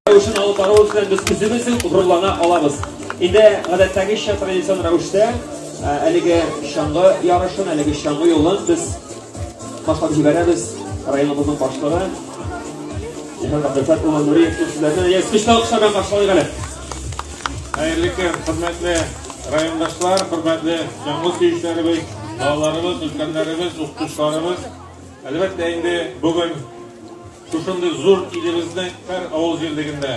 Рәвешен алып баруыбыз белән без үзебез үк горурлана алабыз. Инде гадәттәгечә традицион рәвештә әлеге чаңгы ярышын, әлеге чаңгы юлын без башлап җибәрәбез. Районыбызның башлыгы Җиһан Абдулфат улы Нуриев сүзләренә яз көчле алкышлар белән каршылыйк әле. Хәерле көн, хөрмәтле райондашлар, хөрмәтле чаңгы сөючеләребез, балаларыбыз, өлкәннәребез, укытучыларыбыз. Әлбәттә инде бүген Шушындый зур илебезнең һәр авыл җирлегендә,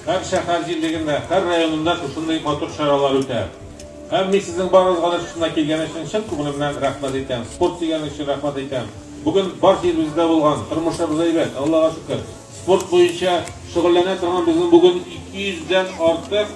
һәр шәһәр җирлегендә, һәр районында шушындый матур чаралар үтә. Һәм мин сезнең барыгызга да шушына килгән өчен чын күңелемнән рәхмәт әйтәм. Спорт дигән өчен рәхмәт әйтәм. Бүген бар җиребездә булган, тормышыбыз әйбәт, Аллага шөкер. Спорт буенча шөгыльләнә торган безнең бүген 200 дән артык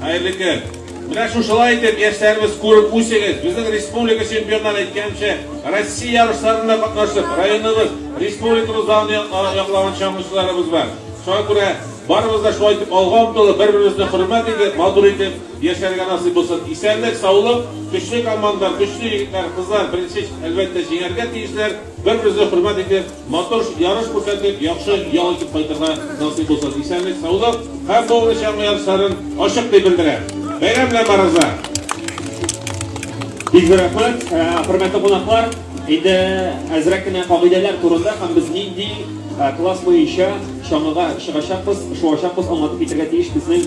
Хәерле көн! Менә шушылай итеп яшьләребез күреп үсегез. Безнең республика чемпионнары әйткәнчә, Россия ярышларында катнашып, районыбыз, республикабыз данын яклаган чаңгычыларыбыз бар. Шуңа күрә барыбыз да шулай итеп алга омтылып, бер-беребезне хөрмәт итеп, матур итеп яшәргә насыйп булсын. Исәнлек, саулык, көчле команда, көчле егетләр, кызлар, беренче, әлбәттә, җиңәргә тиешләр. Бер-беребезне хөрмәт итеп, матур ярыш күрсәтеп, яхшы ял итеп кайтырга насыйп булсын. Исәнлек, саулык һәм бу уңыш яңа ярышларын ачык дип белдерә. Бәйрәм белән барыгызга! Бик зур рәхмәт, хөрмәтле кунаклар. Инде әзрәк кенә кагыйдәләр турында һәм без нинди класс буенча чаңгыга чыгачакбыз, шуачакбыз аңлатып китәргә тиеш безнең